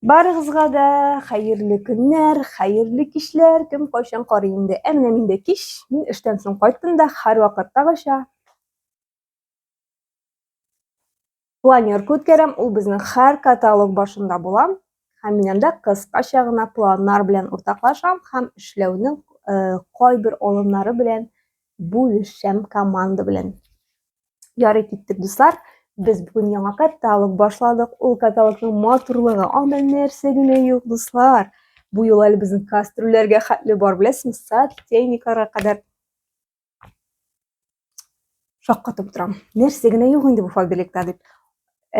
Барыгызга да хәерле көннәр, хәерле кичләр, кем кайчан карый инде. Ә менә мин дә кич, мин эштән соң кайттым да һәрвакыттагыча планерка үткәрәм, ул безнең һәр каталог башында була һәм мин анда кыскача гына планнар белән уртаклашам һәм эшләүнең э, кайбер алымнары белән бүлешәм команда белән. Ярый киттек, дуслар. Без бүген яңа каталог башладык. Ул каталогның матурлыгы, анда нәрсә генә юк, дуслар. Бу юл әле безнең кастрюләргә хәтле бар, беләсезме? Сотейникларга кадәр шаккатып торам. Нәрсә генә юк инде бу фабрикта дип.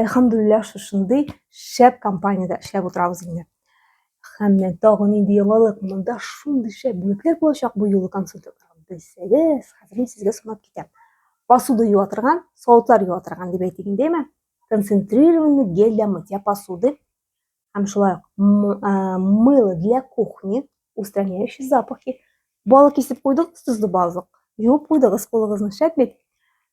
Әлхамдулилла шушындый шәп компаниядә эшләп утырабыз инде. Һәм мен тагын нинди яңалык, монда шундый шәп бүлекләр булачак бу юлы консультантлар. Белсәгез, хәзер мин сезгә сынап китәм. Посуда юа торган, савытлар юа торган дип әйтик инде, әйме? Концентрированный гель для мытья посуды һәм шулай ук мыло для кухни, устраняющий запахи. Балык кисеп куйдыгыз, тозлы балык. Юып куйдыгыз кулыгызны, шәп бит.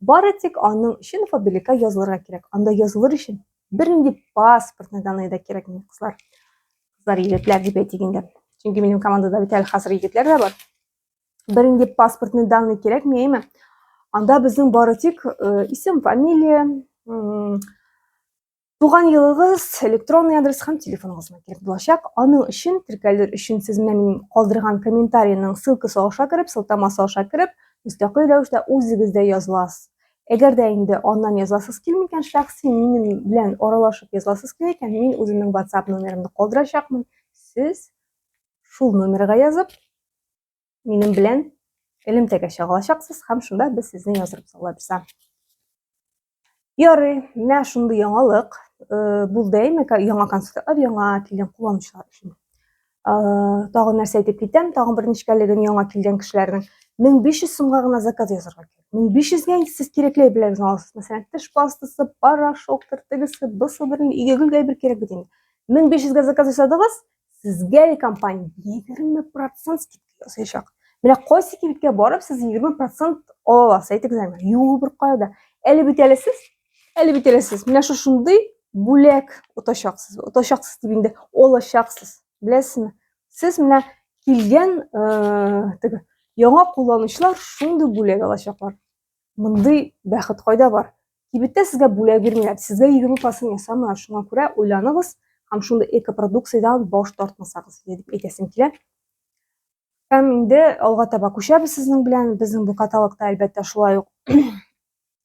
Бары тик аның өчен фабиликка язылырга кирәк. Анда язылыр өчен бернинди паспортный данные да кирәкми, кызлар. Кызлар, егетләр дип әйтик инде. Чөнки минем командада бит әле хәзер егетләр дә бар. Бернинди паспортный данные кирәкми, әйме? Анда безнең бары тик э, исем, фамилия, Туган елыгыз электронный адрес һәм телефоныгызга килеп булачак. Аның өчен теркәлер өчен сез менә минем калдырган комментарийның ссылкасы аша кереп, сылтамасы аша кереп, мөстәкыйль рәвештә үзегез дә языласыз. Әгәр дә инде аннан язасыз килми икән, шәхси минем белән аралашып язасыз килә икән, мин үземнең WhatsApp номерымны калдырачакмын. Сез шул номерга язып, минем белән элемтәгә чыга алачаксыз һәм шунда без сезне яздырып салабыз. Ярый, менә шундый яңалык э, булды әйме, яңа концертлар, яңа килгән кулланучылар өчен. Э, тагын нәрсә әйтеп китәм, тагын бер нечкәлеген яңа килгән кешеләрнең 1500 сумга гына заказ язарга кирәк. 1500 гә инде сез кирәкле әйберләрегезне аласыз. Мәсәлән, теш пастасы, порошок, тертегесе, бысы берле, игегүлгә әйбер кирәк бит инде. 1500 гә заказ ясадыгыз, Сезгә ли компания 20% скидка ясаячак. Менә кайсы кибеткә барып сез 20% ала аласыз, әйтегез әмма. Юк, бер кая да. Әле бит әле сез, әле бит әле сез. Менә шушындый бүләк отачаксыз. Отачаксыз дип инде алачаксыз. Беләсезме? Сез менә килгән, э, теге яңа кулланучылар шундый бүләк алачаклар. Мондый бәхет кайда бар? Кибеттә сезгә бүләк бирмиләр, сезгә егерме процент ясамыйлар, шуңа күрә уйланыгыз һәм шундый экопродукциядән баш тартмасагыз, дип әйтәсем килә. Һәм инде алга таба күчәбез сезнең белән. Безнең бу каталогта, әлбәттә, шулай ук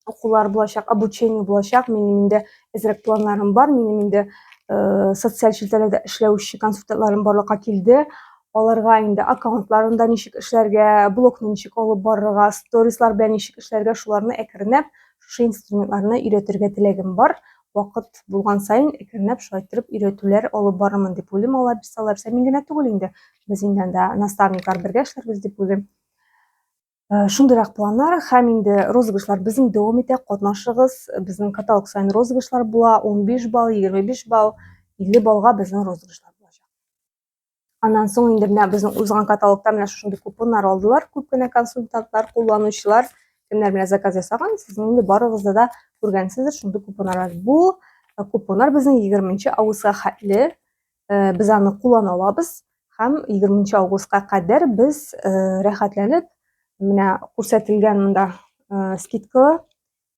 укулар булачак, обучение булачак. Минем инде әзрәк планнарым бар. Минем инде э, социаль челтәрләрдә эшләүче консультантларым барлыкка килде. аларга инде аккаунтларында ничек эшләргә, блокны ничек алып барырга, сторислар белән ничек эшләргә, шуларны әкренләп шушы инструментларны өйрәтергә теләгем бар. Вакыт булган саен әкренләп шулай торып өйрәтүләр алып барырмын дип уйлыйм. Алар бирсә, алар бирсә, мин генә түгел инде. Без инде анда наставниклар бергә эшләрбез дип уйлыйм. Э, шундыйрак планнар һәм инде розыгрышлар безнең дәвам итә. Катнашыгыз. Безнең каталог саен розыгрышлар була. 15 балл, 25 балл, 50 баллга безнең розыгрышлар. Аннан соң инде менә безнең узган каталогта менә шушындый купоннар алдылар күп кенә консультантлар, кулланучылар. Кемнәр менә заказ ясаган, сезнең инде барыгызда да күргәнсездер шундый купоннар бар. Бу э, купоннар безнең 20 августка хәтле э, без аны куллана алабыз һәм 20 августка кадәр без э, рәхәтләнеп менә күрсәтелгән монда скидкалы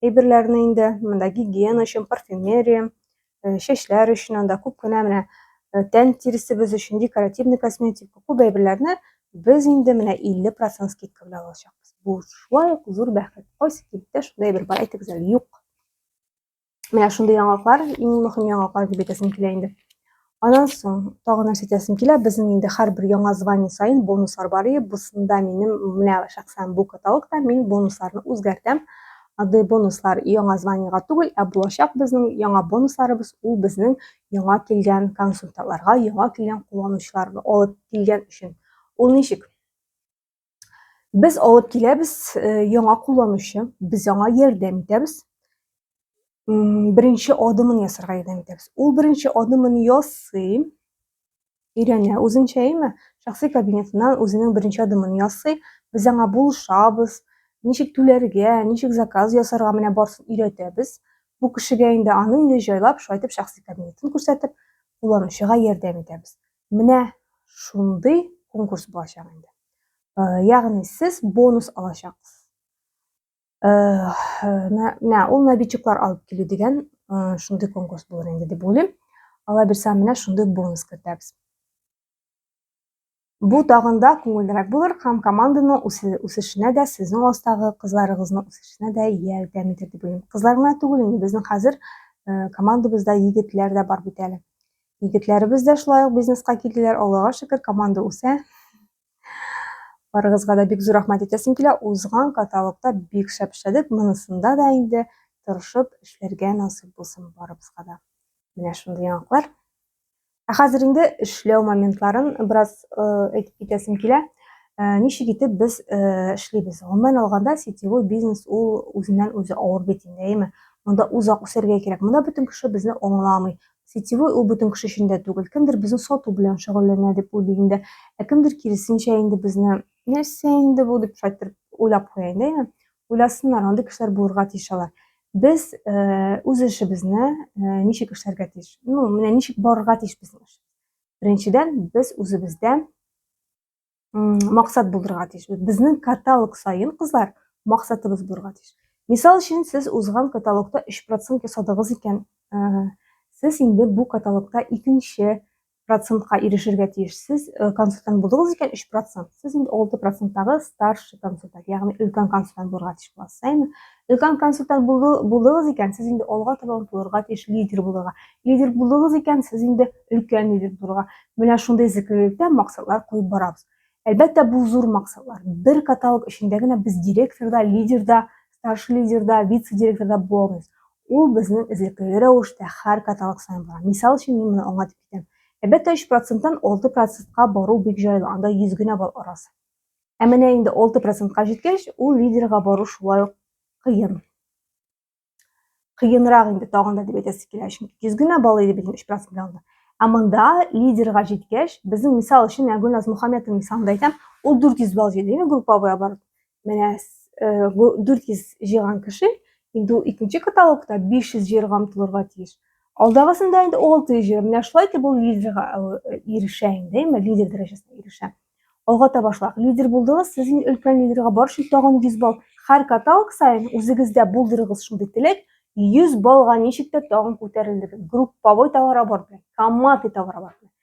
әйберләрне инде. Монда гигиена өчен парфюмерия, э, чәчләр өчен анда күп кенә менә э, тән тиресебез өчен декоративный косметика, күп әйберләрне без инде менә 50% скидка белән алачакбыз. Бу шулай ук зур бәхет. Кайсы кибеттә шундай әйбер бар, әйтегез әле, юк. Менә шундый яңалыклар, иң мөһим яңалыклар дип әйтәсем килә инде. Анан соң тагы нәрсә әйтәсем килә, безнең инде һәрбер яңа звание саен бонуслар бар и бусында минем менә шәхсән бу каталогта мин бонусларны үзгәртәм. Андый бонуслар яңа званиега түгел, ә булачак безнең яңа бонусларыбыз ул безнең яңа килгән консультантларга, яңа килгән кулланучыларны алып килгән өчен. Ул ничек? Без алып киләбез э, яңа кулланучы, без аңа ярдәм итәбез. Беренче адымын ясарга ярдәм итәбез. Ул беренче адымын ясый, өйрәнә үзенчә, әйме? Шәхси кабинетыннан үзенең беренче адымын ясый, без аңа булышабыз, ничек түләргә, ничек заказ ясарга менә барсын өйрәтәбез. Бу кешегә инде аны инде җайлап, шайтып шәхси кабинетын күрсәтеп, кулланучыга ярдәм итәбез. Менә шундый конкурс булачак инде. Э, ягъни сез бонус алачаксыз. Э, менә ул набитчиклар алып килү дигән э, шундый конкурс булыр инде дип уйлыйм. Алла бирсә, менә шундый бонус кертәбез. Бу тагын да күңеллерәк булыр һәм команданың үсешенә дә, сезнең астагы кызларыгызның үсешенә дә ярдәм итер дип уйлыйм. Кызлар гына түгел инде, безнең хәзер командабызда егетләр дә бар бит әле. Егетләребез дә шулай ук бизнеска килделәр. Аллага шөкер, команда үсә. Барыгызга да бик зур рәхмәт әйтәсем килә. Узган каталогта бик шәп эшләдек. Монысында да инде тырышып эшләргә насыйп булсын барыбызга да. Менә шундый яңалыклар. Ә хәзер инде эшләү моментларын бераз э, әйтеп китәсем килә. Э, ничек итеп без э, эшлибез? Гомумән алганда, сетевой бизнес ул үзеннән үзе авыр бит инде, әйеме? Монда узак үсәргә кирәк. Монда бөтен кеше безне аңламый. Сетевой ул бөтен кеше өчен дә түгел. Кемдер безне сату белән шөгыльләнә дип уйлый инде. Ә кемдер киресенчә инде безне нәрсә инде бу дип шайтыр уйлап куя инде, әйме? Уйласыннар, андый кешеләр булырга тиеш алар. Без э, үз эшебезне э, ничек эшләргә тиеш? Ну, менә ничек барырга тиеш безнең эш? Беренчедән, без үзебездә максат булырга тиеш безнең каталог саен кызлар максатыбыз булырга тиеш мисал өчен сез узган каталогта 3 процент ясадыгыз икән сез инде бу каталогта икенче процентка ирешергә тиеш сез консультант булдыгыз икән 3 процент сез инде 6 проценттагы старший консультант ягъни өлкән консультант булырга тиеш буласыз әйме өлкән консультант булдыгыз икән сез инде алга таба омтылырга тиеш лидер булырга лидер булдыгыз икән сез инде өлкән лидер булырга Менә шундый эзлеклелектә максатлар куеп барабыз. Әлбәттә, бу зур максатлар. Бер каталог эчендә генә без директор да, лидер да, старший лидер да, вице-директор да була алмыйбыз. Ул безнең эзлекле рәвештә һәр каталог саен бара. Мисал өчен, мин моны аңлатып китәм. Әлбәттә, 3 проценттан 6 процентка бару бик җайлы, анда 100 генә балл арасы. Ә менә инде 6 процентка җиткәч, ул лидерга бару шулай ук кыен. кыенрак инде тагын да дип әйтәсе килә чөнки йөз генә балл иде бит өч процент алды ә монда лидерга җиткәч безнең мисал өчен менә гөлназ мөхәммәтовна мисалында әйтәм ул дүрт йөз балл җыйды инде групповой оборот менә э, дүрт йөз җыйган кеше инде ул икенче каталогта биш йөз җыярга омтылырга тиеш алдагысында инде алты йөз җыйган менә шулай итеп ул лидерга э, ирешә инде лидер дәрәҗәсенә ирешә Алга таба шулай. Лидер булдыгыз, сез инде өлкән лидерга бар өчен тагын 100 балл. Һәр каталог саен үзегездә булдырыгыз шундый теләк, 100 баллга ничек тә тагын күтәрелдегез. Групповой товарооборот белән, командный товарооборот белән.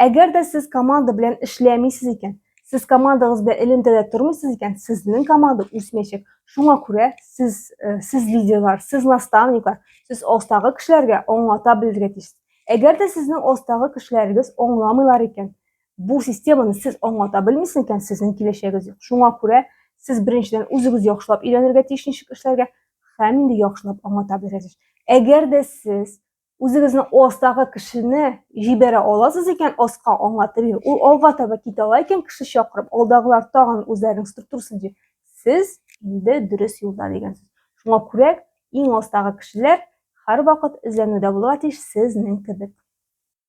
Әгәр дә сез команда белән эшләмисез икән, сез командагыз белән элемтәдә тормыйсыз икән, сезнең команда үсмәячәк. Шуңа күрә сез э, сез лидерлар, сез наставниклар, сез астагы кешеләргә аңлата белергә тиеш. Әгәр дә сезнең астагы кешеләрегез аңламыйлар икән, Бу системаны сез аңлата белмисез икән, сезнең киләчәгегез юк. Шуңа күрә сез беренчедән үзегез яхшылап өйрәнергә тиеш ничек эшләргә һәм инде яхшылап аңлата белергә Әгәр дә сез үзегезне астагы кешене җибәрә аласыз икән, аска аңлатып бир, ул алга таба китә ала икән, кеше чакырып, алдагылар тагын үзләренең структурасын ди. Сез инде дөрес юлда дигән сүз. Шуңа күрә иң астагы кешеләр һәрвакыт эзләнүдә булырга тиеш сезнең кебек.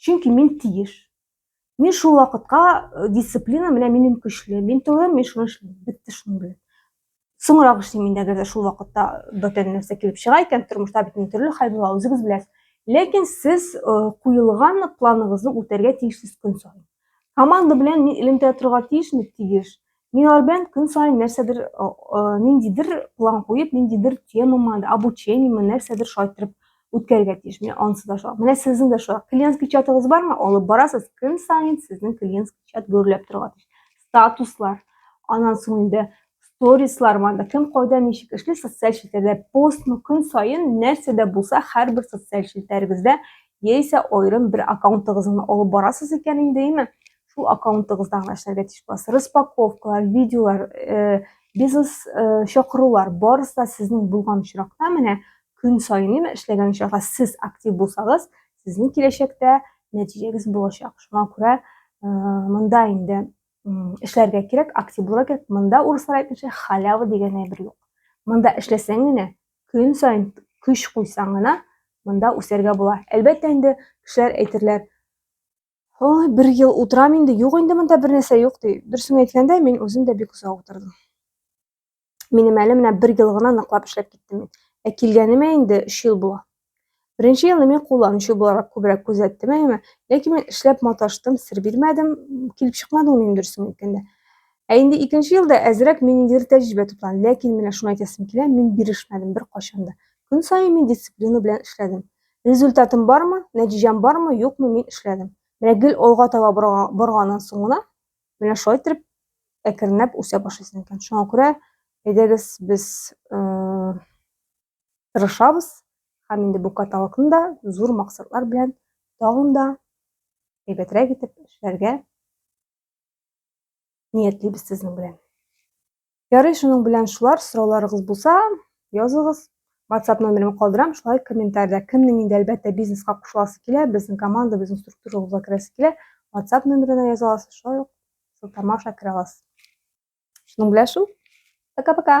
Чөнки мин тиеш. Мин шул вакытка э, дисциплина менә минем көчле. Мин түгел, мин шуны эшлим. Бетте шуның белән. Соңрак эшлим инде, әгәр шул вакытта бөтен нәрсә килеп чыга икән, тормышта бит төрле хәл була, үзегез беләсез. Ләкин сез э, куелган планыгызны үтәргә тиешсез көн саен. Команда белән мин элемтә торырга тиешме? Тиеш. Минар белән көн саен нәрсәдер, ниндидер план куеп, ниндидер темама, обучениеме, нәрсәдер шайтырып үткәрергә тиеш. Менә анысы да шулай. Менә сезнең дә шулай. Клиентский чатыгыз бармы? Алып барасыз. Көн саен сезнең клиентский чат гөрләп торырга тиеш. Статуслар, анан соң инде сторислар манда кем кайда ничек эшли социаль челтәрдә постмы көн саен нәрсә дә булса һәрбер социаль челтәрегездә яисә аерым бер аккаунтыгызны алып барасыз икән инде име Шул аккаунтыгызда гына эшләргә тиеш буласыз. Распаковкалар, видеолар, э, бизнес э, чакырулар барысы да сезнең булган очракта менә көн саен яме эшләгән очракта сез актив булсагыз, сезнең киләчәктә нәтиҗәгез булачак. Шуңа күрә э, монда инде эшләргә кирәк, актив булырга кирәк. Монда урыслар әйтмешә халява дигән әйбер юк. Монда эшләсәң генә, көн саен көч куйсаң гына, монда үсәргә була. Әлбәттә инде кешеләр әйтерләр, Ой, бер ел утырам инде, юк инде монда бер нәрсә юк ди. Дөресен әйткәндә, мин үзем дә бик озак утырдым. Минем әле менә бер ел гына ныклап эшләп киттем мин. Ә килгәнемә инде 3 ел була. Беренче елны мин кулланучы буларак күбрәк күзәттем әйеме, ләкин мин эшләп маташтым, сер бирмәдем, килеп чыкмады ул минем дөресен әйткәндә. Ә инде икенче елда әзрәк мин инде тәҗрибә туплан, ләкин менә шуны әйтәсем килә, мин бирешмәдем бер кайчан да. Көн саен мин дисциплина белән эшләдем. Результатым бармы, нәтиҗәм бармы, юкмы мин эшләдем. Менә гел алга таба борганнан соң гына менә шулай итеп әкренләп үсә башлыйсың икән. Шуңа күрә әйдәгез без э, тырышабыз һәм инде бу каталогны да зур максатлар белән тагын да әйбәтрәк итеп эшләргә ниятлибез сезнең белән. Ярый, шуның белән шулар, сорауларыгыз булса, языгыз. WhatsApp номерымны калдырам, шулай комментариядә кемнең инде әлбәттә бизнеска кушыласы килә, безнең команда, безнең структурабызга керәсе килә, WhatsApp номерына яза аласыз, шулай ук сылтама аша керә аласыз. Шуның белән шул. Пока-пока.